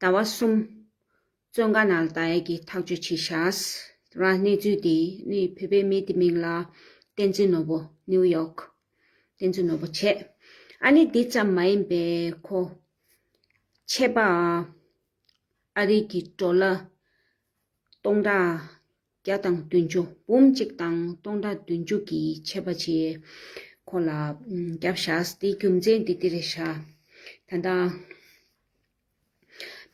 ཟླ་བ་གསུམ། བཙོན་ཁང་ནང་ལ་ད་ཡལ་གྱིས་ཐག་གཅོད་བྱས་ཤགས། རང་གནས་ཚུལ་དེ་ནི་བོད་པའི་མི་དེ་མིང་ལ། བསྟན་འཛིན་ནོར་བུ། New York། བསྟན་འཛིན་ནོར་བུ་བྱས། ཨ་ནི་དེ་ཙམ་མ་ཡིན་པའི་ཁོ། ཆད་པ། ཨ་རིག་གི་བྲོ་ལ། སྟོང་དྲག། བརྒྱ་དང་བདུན་ཅུ་འབུམ་གཅིག་དང་སྟོང་ཕྲག་བདུན་ཅུ་གྱིས་ཆད་པ་བྱས། ཁོ་ལ་སྐྱབས་བཞག་དེའི་རྒྱུ་མཚན་འདི་ལྟེ་རེ་བཞག། ད་ལྟ་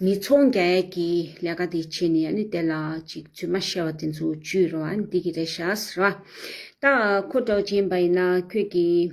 མི་ཚོགས་འགའ་ཡས་ཀྱི་ལས་ཀ་དེ་བྱས་ནས་ནི་དེ་ལ་ཅིག་རྫུན་མ་བཤད་པ་དེ་ཚོ་བཅུས་ར་བ་འདི་གི་རེ་བཞག་ར་བ། ད་ཁོ་གྲགས་ཅན་པ་ཡིན་ན་ཁྱོད་ཀྱིས།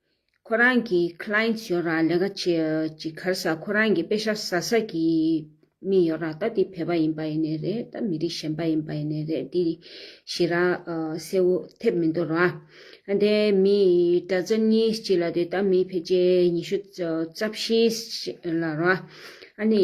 ཁོ་རང་གི Clients ཡོད་ར་ལས་ཀ་བྱེད་ཀྱི་ཁར་ས་ཁོ་རང་གི་དཔེ་ཤ་ཟ་ས་ཀྱི་མི་ཡོད་ར་ད་དེ་བོད་པ་ཡིན་པ་ཡིན་ནས་རེད་ད་མི་རིགས་གཞན་པ་ཡིན་པ་ཡིན་ནས་རེད་དེ་ཞེས་ར་གསལ་བོ་ཐེབས་མི་འདུག་ར། དེ་མི་གྲྭ་ཚན་གཉིས་གཅིག་ལ་དེ་ད་མི་ཕལ་ཆེར་ཉི་ཤུ་རྩ་བཞི་ལ་ར། ཨ་ནི།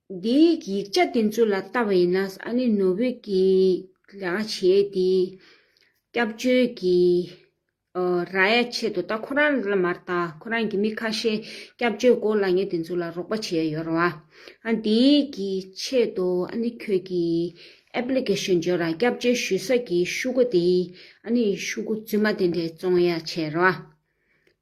འདིའི་ཡིག་ཆ་དེ་ཚོ་ལ་ལྟ་བ་ཡིན་ན་ས་གནས་ནོར་བུས་ཀྱི་ལས་ཀ་བྱས་ཏེ་སྐྱབས་བཅོལ་གྱི་ར་ཡ་ཆེད་དུ་ད་ཁོ་རང་ལ་མ་ལྟ་ཁོ་རང་གི་མི་ཁ་ཤས་སྐྱབས་བཅོལ་སྒོ་ལ་ངས་དེ་ཚོ་ལ་རོགས་པ་བྱས་ཡོད་ར་བ་ཨ་འདིའི་ཀྱི་ཆེད་དུ་ཨ་ནི་ཁྱོད་ཀྱི Application འབྱོར་ར་སྐྱབས་བཅོལ་ཞུ་ས་ཀྱི་ཤུ་གུ་དེ་ཨ་ནི་ཤུ་གུ་རྫུན་མ་དེ་འདྲས་བཙོང་ཡ་བྱས་ར་བ།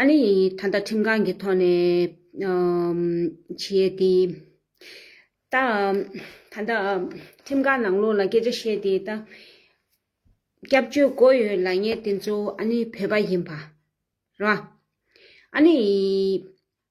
ཨ་ནི་ད་ལྟ་ཁྲིམས་ཁང་གི་ཐོག་ནས་བྱས་ཏེ། ད་ལྟ་ཁྲིམས་ཁང་ནང་ལོགས་ལ་སྐད་ཆ་བཤད་དེ་ད་སྐྱབས་བཅོལ་བསྒོ་ཡོད་ལ་ངས་དེ་ཚོ་ཨ་ནི་བོད་པ་ཡིན་པ་ར། ཨ་ནི།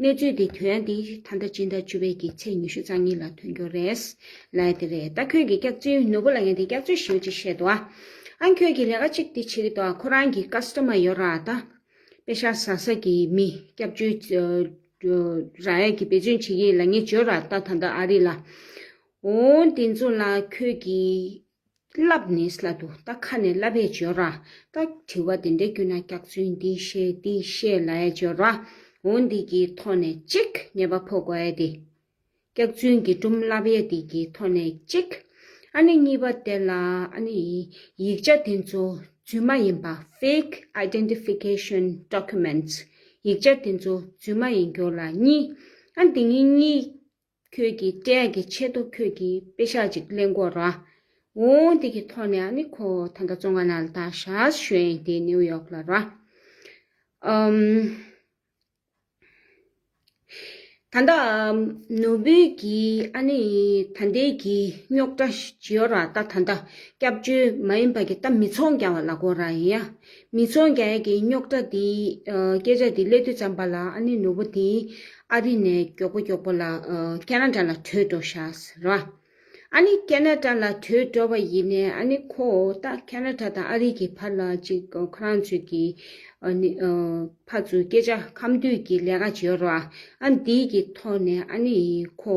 གནས་ཚུལ་འདི་དོན་འདི་ད་ལྟ་སྤྱི་ཟླ་བཅུ་པའི་གི་ཚེས་ཉི་ཤུ་རྩ་གཉིས་ལ་ཐོན་རྒྱུ་རེད། ལན། དེ་རེད་ད་ཁྱོད་ཀྱི་སྐྱག་རྫུན་ནོར་བུ་ལ་ངས་འདི་སྐྱག་རྫུན་ཞེའུ་ཅིག་བཤད་འདུག་ཨ། ཨང་ཁྱོད་ཀྱིས་ལས་ཀ་གཅིག་འདི་བྱེད་གི་འདུག་ཨ་ཁོ་རང་གི་ཀ་སི་ཏོ་མ་ཡོད་ར་ད། དཔེ་ཤ་ཟ་ཟ་གི་མི་སྐྱབས་བཅོལ་ར་ཡས་ཀྱི་འབད་བརྩོན་བྱེད་གི་ལ་ངས་བརྗོད་ར་ད་ད་ལྟ་ཨ་རི་ལ། འོང། དེ་ཚོ་ལ་ཁྱོད་ཀྱིས་བསླབ་ནས་སླ་འདུག་ད་ཁ་ནས་སླ་བས་སྦྱོར་ར། ད་དྲི་བ་དེ་འདྲ་བསྐྱུར་ན་སྐྱག་རྫུན་འདི་བཤད་འདི་བཤད་ལ་སྦྱོར་ར། འོ་འདི་གི་ཐོག་ནས་ཅིག་ཉེས་པ་ཕོག་གོ་ཨེ་དེ། སྐྱག་རྫུན་གྱི་སྒྲོམ་སླ་བས་འདི་གི་ཐོག་ནས་ཅིག། ཨ་ནི་གཉིས་པ་དེ་ལ་ཨ་ནི་ཡིག་ཆ་དེ་ཚོ་རྫུན་མ་ཡིན་པ fake identification documents ཡིག་ཆ་དེ་ཚོ་རྫུན་མ་ཡིན་རྒྱུ་ལ་གཉིས། ཨ་འདི་གཉིས་གཉིས་ཁྱོད་ཀྱིས་སྐྲའི་གི་ཆེད་དུ་ཁྱོད་ཀྱིས་དཔེ་ཤག་ཅིག་གླེང་དགོས་ར། འོང་དེ་གི་ཐོག་ནས་ཨ་ནི་ཁོ་ད་ལྟ་ཙོང་ཁ་ནལ་ཐ་ཤཱས་ཞོན་དེ་ནིའུ་ཡོག་ལ་ར། ད་ལྟ་ནོར་བུ་གིས་ཨ་ནི་ད་ལྟའི་གི་རྙོག་དྲ་ཇི་ཡོད་ར་ད་ད་ལྟ་སྐྱབས་བཅོལ་མ་ཡིན་པ་གི་ད་མི་ཚོང་རྒྱ་བ་ལ་གོ་ར་ཡིན་ཡ། མི་ཚོགས་རྒྱ་ཡིག་གི་རྙོག་དྲ་འདི་སྐད་ཆ་འདི་ཀླད་དུ་བཅངས་པ་ལ་ཨ་ནེ་ནོར་བུ་འདི་ཨ་རི་ནས་མགྱོགས་པོ་མགྱོགས་པོ་ལ་ཀ་ན་ཀྲ་ལ་བྲོས་འགྲོ་ཤགས་རེད་བ། ཨ་ནེ་ཀ་ན་ཀྲ་ལ་བྲོས་འགྲོ་བ་ཡིན་ནས་ཨ་ནེ་ཁོ་ཏག་ཀ་ན་ཀྲ་དང་ཨ་རི་གི་བར་ལ་ཅིག་ཁོ་རང་ཚོས་ཀྱི་ཕ་ཚོས་སྐད་ཆ་ཁམས་དུས་ཀྱི་ལས་ཀ་བྱེད་རོགས་ཨ་འདི་ཀྱི་ཐོག་ནས་ཨ་ནེ་ཁོ་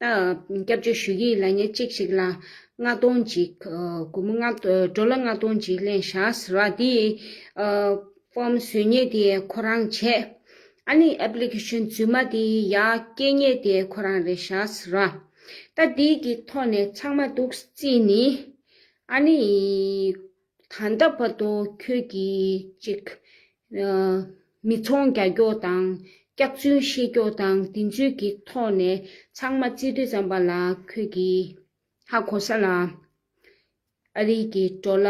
སྐྱབས་བཅོལ་ཞུ་ཡིག་ལ་ཉེར་གཅིག་ཞིག་ལ་ལྔ་སྟོང་འཇིག། གུ་མོ་སྒྲོལ་ལ་ལྔ་སྟོང་འཇིག་ལན་བྱ་ཟེར་བ་དེ། ཕོམ་བཟོས་ཉེས་དེ་ཁོ་རང་བྱས། ཨ་ནི Application རྫུན་མ་དེ་ཡ་སྐྱེས་ཉེས་དེ་ཁོ་རང་རེད་བྱ་ཟེར་བ། ད་དེ་གི་ཐོག་ནས་ཚང་མ་དུག་རྩིས་ནི་ཨ་ནི། ད་ལྟ་བར་དུ་ཁྱོད་ཀྱིས་ཅིག། མི་ཚོང་རྒྱ་སྐྱོགས་དང་སྐྱག་རྫུན་བཤད་སྐྱོགས་དང་དེ་ཚོའི་གི་ཐོག་ནས་ཚང་མ་རྩིས་སྤྲོད་བརྩམས་པ་ལ་ཁྱོད་ཀྱིས་ཧ་གོ་ས་ལ། ཨ་རིག་གི་འགྲོ་ལ་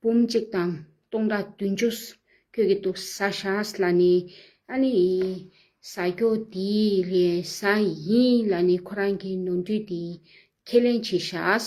འབུམ་གཅིག་དང་སྟོང་ཕྲག་བདུན་ཅུ་ཁྱོད་ཀྱི་འདུག་ས་ཤཱས་ལ་ནི་ཨ་ནི་ཡི་ཟ་སྐྱོ་དེའི་ལས་ཟ་ཡིན་ལ་ནི་ཁོ་རང་གི་ནོར་འཁྲུལ་དེ་ཁས་ལེན་བྱེད་ཤཱས།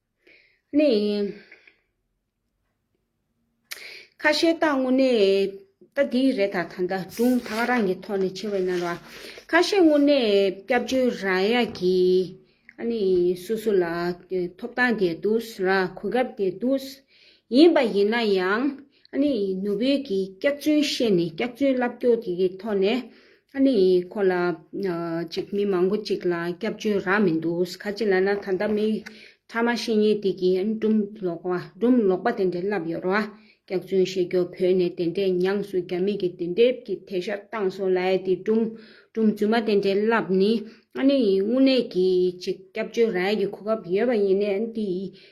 ནི། ཁ་ཤས་རྟགས་དངོས་གནས་རྟགས་འདི་རེད་ད་ད་ད་དུང་ད་ག་རང་གི་ཐོག་ནས་ཆེ་བས་ན་ར། ཁ་ཤས་དངོས་གནས་སྐྱབས་བཅོལ་ར་ཡ་གི། ཨ་ནི་སུ་སུ་ལ་ཐོབ་ཐང་དེ་འདུག་ར་གོ་སྐབས་དེ་འདུག། ཡིན་པ་ཡིན་ན་ཡང་ཨ་ནི་ནུ་བོད་ཀྱི་སྐྱག་རྫུན་བཤད་ནས་སྐྱག་རྫུན་ལབ་སྐྱོ་དེ་གི་ཐོག་ནས། ཨ་ནེ་ཡིས་ཁོ་ལ། ཅིག་མི་མང་པོ་ཅིག་ལ་སྐྱབས་བཅོལ་རག་མི་འདུག་ག་ཅི་ལ་ན་ད་ལྟ་མི་ཕྲ་མ་ཤེས་ཉེས་དེ་གིས་སྦྲུམ་ལོག་པ་སྦྲུམ་ལོག་པ་དེ་འདྲས་བསླབས་ཡོད་རོ། སྐྱག་རྫུན་བཤད་རྒྱོ་བོད་ནས་དེ་འདྲས་ཉངས་སུ་རྒྱ་མི་གིས་དེ་འདྲས་ཀྱི་ཐད་ཤར་སྟངས་སོ་ལ་ཡ་དེ་སྦྲུམ་སྦྲུམ་རྫུན་མ་དེ་འདྲས་བསླབས་ནི་ཨ་ནེ་ཡིས་དངོས་གནས་ཀྱིས་ཅིག་སྐྱབས་བཅོལ་རག་ཡ་གི་གོ་སྐབས་ཡོད་པ་ཡིན་ནའི་དེ་ཡིས་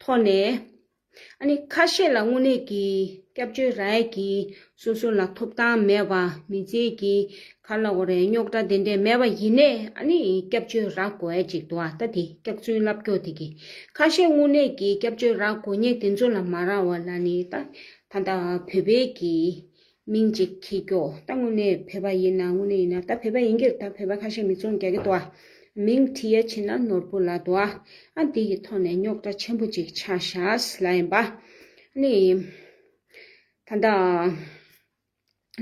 ཐོག་ནས། ཁ་ཤས་ལ་དངོས་གནས་ཀྱི་སྐྱབས་བཅོལ་རལ་གྱིས་སོ་སོ་ལ་ཐོབ་ཐང་མེད་པ་མི་བརྩེ་གི་ཁ་ལ་འོ་རེ་རྙོག་དྲ་དེ་འདྲས་མེད་པ་ཡིན་ནས་སྐྱབས་བཅོལ་རག་དགོས་ཨེ་ཅིག་འདུག་ཨ་ད་དེ་སྐྱག་རྫུན་ལབ་སྐྱོག་དེ་གི་ཁ་ཤས་དངོས་གནས་ཀྱི་སྐྱབས་བཅོལ་རག་དགོས་ངེས་དེ་ཚོ་ལ་མ་རག་བ་ལ་ནི་ད་ད་བོད་པའི་གི་མིང་གཅིག་གིས་སྐྱོ། ད་དངོས་གནས་བོད་པ་ཡིན་ན་དངོས་གནས་ཡིན་ན་ད་བོད་པ་ཡིན་གྱིར་ད་བོད་པ་ཁ་ཤས་མི་ཚོང་རྒྱག་གི་འདུག་ཨ། མིང་བྲིས་ཡ་ཕྱིན་ན་ནོར་བུ་ལ་འདུག་ཨ། ཨ་འདི་ཡི་ཐོག་ནས་རྙོག་དྲ་ཆེན་པོ་ཅིག་ཆགས་ཤགས་ལ་ཡིན་པ། ནི། ད་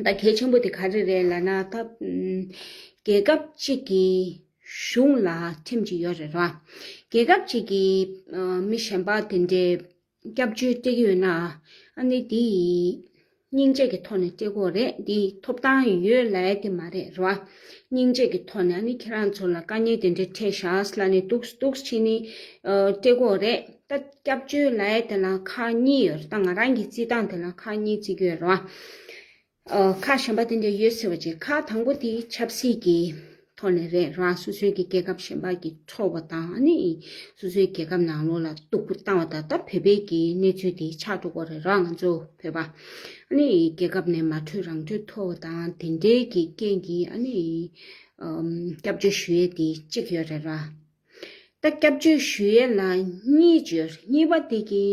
ལྟ། ད་གལ་ཆེན་པོ་དེ་ག་རེ་རེད་ལ་ན་ད། རྒྱལ་ཁབ་ཅིག་གི་གཞུང་ལ་ཁྲིམས་ཅིག་ཡོད་རེད་ར། རྒྱལ་ཁབ་ཅིག་གི་མི་གཞན་པ་དེ་འདྲའི། སྐྱབས་བཅོལ་སྟེགས་ཡོད་ན་ཨ་ནི་དེ་ཡིས། སྙིང་རྗེ་གི་ཐོག་ནས་སྟེགས་བོ་རེད་འདི་ཐོབ་ཐང་ཡོད་ལ་ཡ་དེ་མ་རེད་ར་བ། སྙིང་རྗེ་གི་ཐོག་ནས་ཨ་ནི་ཁྱེད་རང་ཚོ་ལ་དཀའ་ཉེ་དེ་འདྲའི་འཕྲད་ཤགས་ལ་ནི་འདུགས་འདུགས་ཕྱིན་ནི་སྟེགས་བོ་རེད་ད་སྐྱབས་བཅོལ་ལ་ཡ་དེ་ལ་ཁག་གཉིས་ཡོད་ར་ད་ང་རང་གི་རྩིས་ཐང་དེ་ལ་ཁག་གཉིས་རྩིས་ཀྱི་ཡོད་ར་བ། ཁ་གཞན་པ་དེ་འདྲ་ཡོད་ཟེར་བ་ཅིག་ཁ་དང་པོ་དེ་ཆབ་སྲིད་ཀྱི་ཐོག་ནས་རེད་རང་སོ་སོའི་གི་རྒྱལ་ཁབ་གཞན་པ་གི་འཚོ་བ་དང་ནི་སོ་སོའི་རྒྱལ་ཁབ་ནང་ལོག་ལ་གཏུག་པོ་བཏང་བ་ད་ལྟ་བོད་པའི་གི་གནས་ཚུལ་དེ་ཆགས་འགྲོ་གོ་རེད་ར་ང་ཚོ་བོད་པ་ནི་རྒྱལ་ཁབ་ནས་མ་འཕྲོད་རང་འཕྲོད་འཐོར་བ་དང་དེ་འདྲའི་གི་རྐྱེན་གི་ཨ་ནི་སྐྱབས་བཅོལ་ཞུ་ཡས་དེ་གཅིག་ཡོད་རེད་ར། ད་སྐྱབས་བཅོལ་ཞུ་ཡས་ལ་གཉིས་བཅོལ་གཉིས་པ་དེ་གི་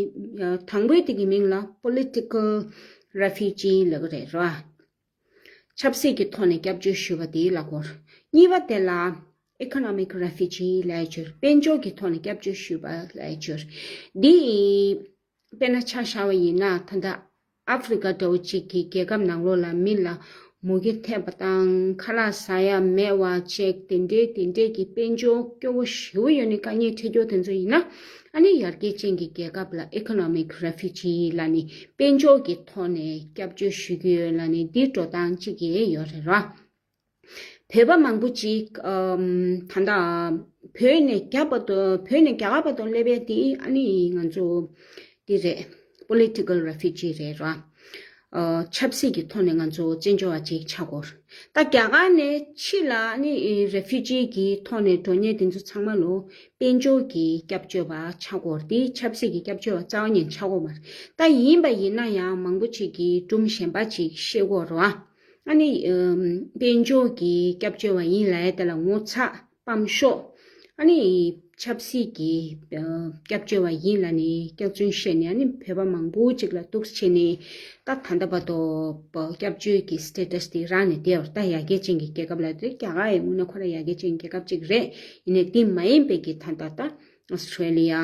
དང་པོའི་དེ་གི་མིང་ལ Political Refugee ལབ་གི་རེད་ར། ཆབ་སྲིད་ཀྱི་ཐོག་ནས་སྐྱབས་བཅོལ་ཞུ་བ་དེའི་ལ་སྐོར། གཉིས་པ་དེ་ལ Economic Refugee ལས་བཅོལ་དཔལ་འབྱོར་གྱི་ཐོག་ནས་སྐྱབས་བཅོལ་ཞུ་བ་ལས་བཅོལ། འདི། དཔེར་ན་ཆ་ཤར་བ་ཡིན་ན་ད་ལྟ་ཨ་ཧྥི་རི་ཀ་འདྲ་བོ་ཅིག་གི་རྒྱལ་ཁབ་ནང་ལོགས་ལ་མི་ལ་མུ་གེ་ཐེབས་པ་དང་ཁ་ལག་ཟ་ཡ་མེད་བ་བཅས་དེ་འདྲའི་དེ་འདྲས་ཀྱི་དཔལ་འབྱོར་སྐྱོ་བོ་ཞེ་བོ་ཡོད་ནི་དཀའ་ཉེ་འཕྲད་འགྱུར་དེ་ཚོ་ཡིན་ན་ཨ་ནི་ཡར་རྒྱས་ཅན་གྱི་རྒྱལ་ཁབ་ལ Economic Refugee ལ་ནི་དཔལ་འབྱོར་གྱི་ཐོག་ནས་སྐྱབས་བཅོལ་ཞུ་རྒྱུ་ཡོད་ལ་ནི་འདི་འགྲོ་སྟངས་གཅིག་ཡོད་རེད་ར། བོད་པ་མང་པོ་ཅིག་ད་ལྟ་བོད་ནས་རྒྱ་གར་པ་དང་སླེབས་པའི་དེ་ཨ་ནི་ང་ཚོ་དེ་རེད Political Refugee རེད་ར། ཆབ་སྲིད་ཀྱི་ཐོག་ནས་ང་ཚོ་བཙན་བྱོལ་བ་ཅིག་ཆགས་དགོས། ད་རྒྱ་གར་ནས་ཕྱི་ལ་ཨ་ནི Refugee ཀྱི་ཐོག་ནས་འགྲོ་ཉེན་དེ་ཚོ་ཚང་མ་ལོ་དཔལ་འབྱོར་གྱི་སྐྱབས་བཅོལ་བ་ཆགས་དགོས་ཏེ་ཆབ་སྲིད་ཀྱི་སྐྱབས་བཅོལ་བ་རྩ་བ་ཉིད་ཆགས་དགོས་མ་རེད། ད་ཡིན་པ་ཡིན་ན་ཡང་མང་པོ་ཅིག་གིས་སྒྲུང་གཞན་པ་ཅིག་ཤེས་དགོས་ར། ཨ་ནི། དཔལ་འབྱོར་གྱི་སྐྱབས་བཅོལ་བ་ཡིན་ལ་དེ་ལ་ངོ་ཚ་སྤམས་ཤོག། ཨ་ནི། ཆབ་སྲིད་ཀྱི་སྐྱབས་བཅོལ་བ་ཡིན་ལ་ནི་སྐྱག་རྫུན་བཤད་ནས་ཨ་ནི་བོད་པ་མང་པོ་ཅིག་ལ་གཏུགས་བྱས་ནས་ད་ད་ལྟ་བར་དུ་སྐྱབས་བཅོལ་གྱི status དེ་རག་ནས་དེ་བར་ད་ཡ་རྒྱལ་ཅན་གྱི་རྒྱལ་ཁབ་ལ་དེ་རྒྱ་གར་ཡིན་ངོ་ན་ཁོ་རང་ཡ་རྒྱལ་ཅན་གྱི་རྒྱལ་ཁབ་ཅིག་རེད་ཡིན་ནས་དེ་མ་ཡིན་པའི་གྱི་ད་ད་ད Australia།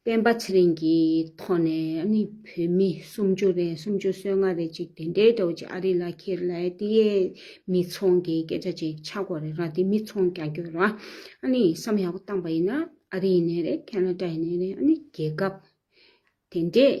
སྤེན་པ་ཚེ་རིང་གིས་ཐོག་ནས་ནི་བོད་མི་སུམ་ཅུ་རེ་སུམ་ཅུ་སོ་ལྔ་རེ་གཅིག་དེ་འདྲའི་ཐོག་ཅི་ཨ་རི་ལ་ཁྱེར་ལ་ཨེ་ཏི་ཡའི་མི་ཚོང་གི་སྐད་ཆ་ཅིག་ཆ་གོ་རེ་ར་དེ་མི་ཚོང་རྒྱག་རྒྱུ་ར་ཨ་ནི་བསམ་ཡག་པོ་བཏང་པ་ཡིན་ན་ཨ་རི་ཡིན་ནའི་རེད་ཁ་ན་ཏྲ་ཡིན་ནའི་རེད་ཨ་ནི་རྒྱལ་ཁབ་དེ་འདྲས་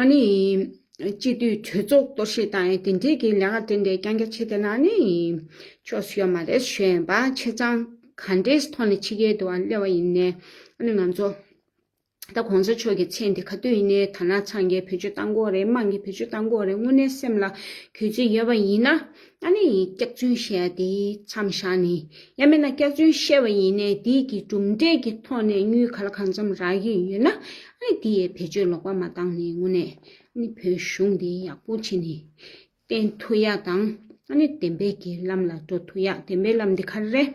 ཨཱ་ནི། སྤྱི་འཐུས་གྲོས་ཚོགས་གཏོར་བཤིག་དང་ཡང་དེ་འབྲེལ་གྱི་ལས་ཀ་དེ་འདྲའི་རྐྱང་རྐྱང་བྱེད་དེ་ན་ནི། ཆོས་སུ་ཡོད་མ་རེད་ཞུ་ཡན་པ་ཁྱེད་ཚང་ག་འདྲའི་ཐོག་ནས་ཕྱི་རྒྱལ་དུ་བ་སླེབས་བ་ཡིན་ནས་ཨཱ་ནི་ང་ཚོ་ད་གོང་ས་མཆོག་གི་མཚན་དེ་ག་དུས་ཡིན་ནའི་ཐ་ན་ཚང་རྒྱལ་བོད་ཆོས་བཏང་གོ་རེད་དམངས་ཀྱི་བོད་ཆོས་བཏང་གོ་རེད་དངོས་གནས་སེམས་ལ་གུས་བརྩི་ཡོད་པ་ཡིན་ན་ཨ་ནི་ཡིས་སྐྱག་རྫུན་བཤད་དེ་མཚམས་བཞག་ནས་ཡ་མེད་ན་སྐྱག་རྫུན་བཤད་པ་ཡིན་ནའི་དེས་ཀྱི་གྲུབ་འབྲས་ཀྱི་ཐོག་ནས་སྙུལ་ག་ལ་གང་འཚམས་རག་གི་ཡོད་ན་ཨ་ནི་དེ་ཡས་བེད་སྤྱོད་ལོག་པ་མ་བཏང་ནས་དངོས་གནས་ཨ་ནི་བོད་གཞུང་དེ་ཡག་པོ་བྱེད་ནས་བསྟེན་ཐུ་ཡ་དང་ཨ་ནི་བདེན་པའི་གྱི་ལམ་ལ་འགྲོ་ཐུ་ཡ་བདེན་པའི་ལམ་དེ་ག་རེ་རེད།